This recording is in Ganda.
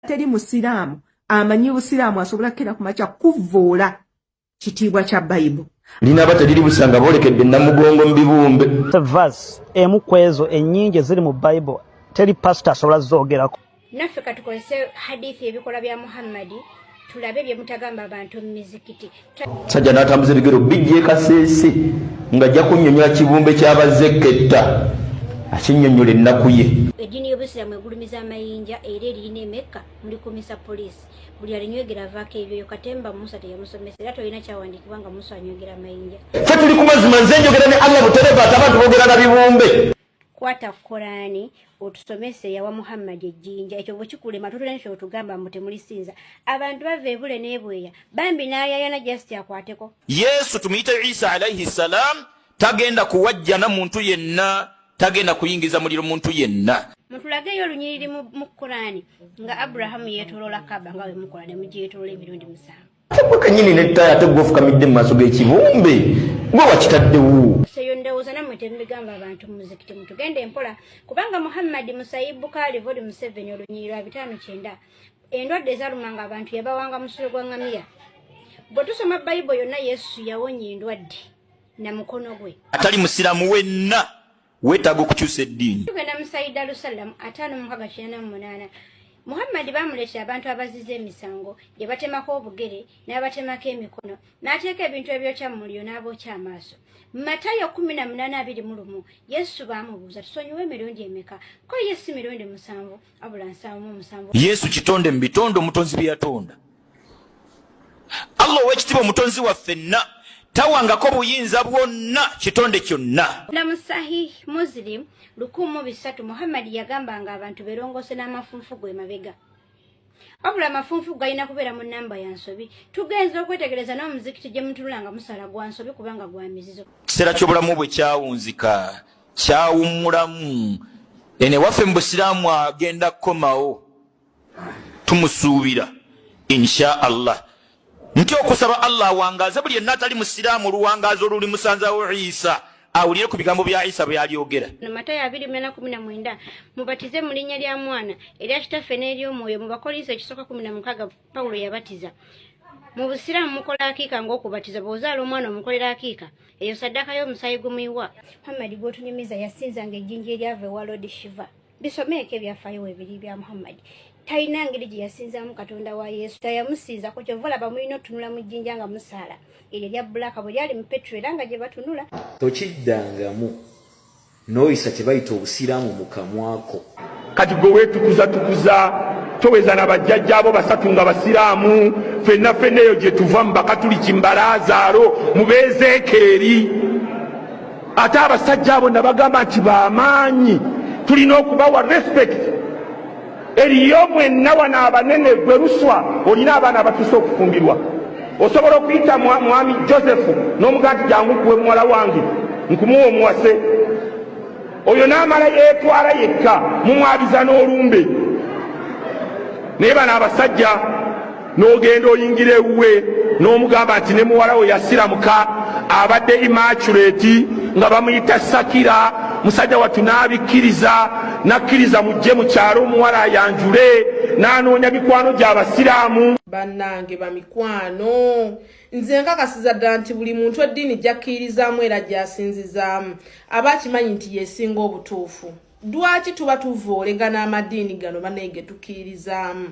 teri musiraamu amanyi busiraamu asobola kukera ku makya kuvvoola kitiibwa kya bayibu linaaba teriri busanga boolekedde namugongo mu bibumbe vas emu ku ezo ennyingi eziri mu bayibo teri pasita asobola zoogerako naffe katukozese hadithi ebikola bya muhammadi tulabe bye mutagamba abantu mu mizikiti sajja n'atambuza ebigero bijja ekaseese nga ajja kunnyonnyola kibumbe ky'abazze ekketta akinnyonnyola ennaku ye eddiini y'obusiraamu egulumiza amayinja era eriyina emekka mulikumisa poliisi buli alinywegera avaako ebyoyo katemba musa teyamusomesa era tolina kyawandiikibwa nga musa anywegera amayinja fe tuli ku mazima nze njogera ne allah buterevaati abantu boogera na bibumbe kwata korani otusomese yawa muhammadi ejjinja ekyo bwekikulema totera nti otugamba mbu temulisinza abantu bava ebule nebweya bambi nayayana just akwateko yesu tumuyite isa alaihi salam tagenda kuwajjana muntu yenna tagenda kuyingiza muliro muntu yenna mutulageyo olunyiriri mu korani nga abrahamu yetolola kaba nga wemukola nemugyetolola emirundi musanvu ate gwe kanyini ne ttaaya ate gwe ofukamidde mu maaso g'ekibumbe gwe wakitaddewo seyo ndowooza nammwe temubigamba abantu mu muzikiti mutugenda empola kubanga muhammadi musayi bukaali voli museveni olunyiri lwa bitaano kyenda endwadde ezalumanga abantu yabawanga musulo gwa ngamiya bwe tusoma bayibo yonna yesu yawonya endwadde na mukono gwe atali musiramu wenna wetaga okukyusa eddiini tugenda musayida lusallam ataano mukaga kinana mu munaana muhammadi baamuleetera abantu abaziza emisango gye batemako obugere n'abatemako emikono n'ateeka ebintu ebyokya mu muliro n'abookya amaaso mu matayo kumi na munaana abiri mu lumu yesu baamubuuza tusonyiwa emirundi emeka ko ye si mirundi musanvu yesu kitonde mu bitonde omutonzi bye yatonda allah owekitiba omutonzi waffe nna tawangako buyinza bwonna kitonde kyonna lamu sahih muslim lukumu bisatu muhammadi yagamba nga abantu berongose n'amafunfu gwe mabega wabula amafunfu galina kubeera mu namba ya nsobi tugenza okwetegereza n'omuzikiti gye mutulula nga musala gwa nsobi kubanga gwa mizizo kiseera ky'obulamu bwe kyawunzika kyawummulamu eno ewaffe mu busiraamu agenda kukomawo tumusuubira insha allah nti okusaba allah awangaaze buli yenna atali musiraamu oluwangaazi oluli musanzawo isa awulire ku bigambo bya isa byalyogera matayo abiri mena kumi na mwenda mubatize mu linnya lya mwana erya kitaffe n'ery'omwoyo mu bakolinso ekisooka kumi na mukaaga pawulo yabatiza mu busiraamu mukola akiika ng'okubatiza bw'ozaala omwana omukolera akiika eyo saddaaka y'omusaayi gumuyiwa muhammadi gw'otunyumiza yasinzanga ejjinja eryava ewa lodi shiva bisomeeko ebyafaayo webiri bya muhammadi talina ngeri gye yasinzaamu katonda wa yesu tayamusinzako kyova olaba mulina otunula mu jjinja nga musaala eryo erya bbulaaka bwe lyali mu petro era nga gye batunula tokiddangamu Noyisa kyebayita obusiraamu mu kamwa ko. Kati gwe wetukuza tukuza toweza na bajjajja abo basatu nga basiraamu fenna fenna eyo gyetuva mu bakatuliki mu balaazaaro mu beezeekeeri ate abasajja abo nabagamba nti bamaanyi tulina okubawa respect eriyo mwenna wano abanene gwe luswa olina abaana abatuuse okufumbirwa osobola okuyita mwami josefu n'omugaa nti jangu kuwe muwala wange nkumuwa omuwase oyo n'amala yeetwala yekka mumwabiza n'olumbe naye bano abasajja n'ogenda oyingira ewuwe n'omugamba nti ne muwala we yasiramuka abadde imaculeti nga bamuyita sakira musajja wattu n'abikkiriza n'akkiriza mujje mu kyalo omuwala ayanjule n'anoonya mikwano gy'abasiraamu bannange bamikwano nze nkakasiza ddala nti buli muntu eddiini gyakkirizaamu era gyasinzizaamu aba akimanyi nti yesinga obutuufu lwaki tuba tuvoolegana amadiini gano banaye getukkirizaamu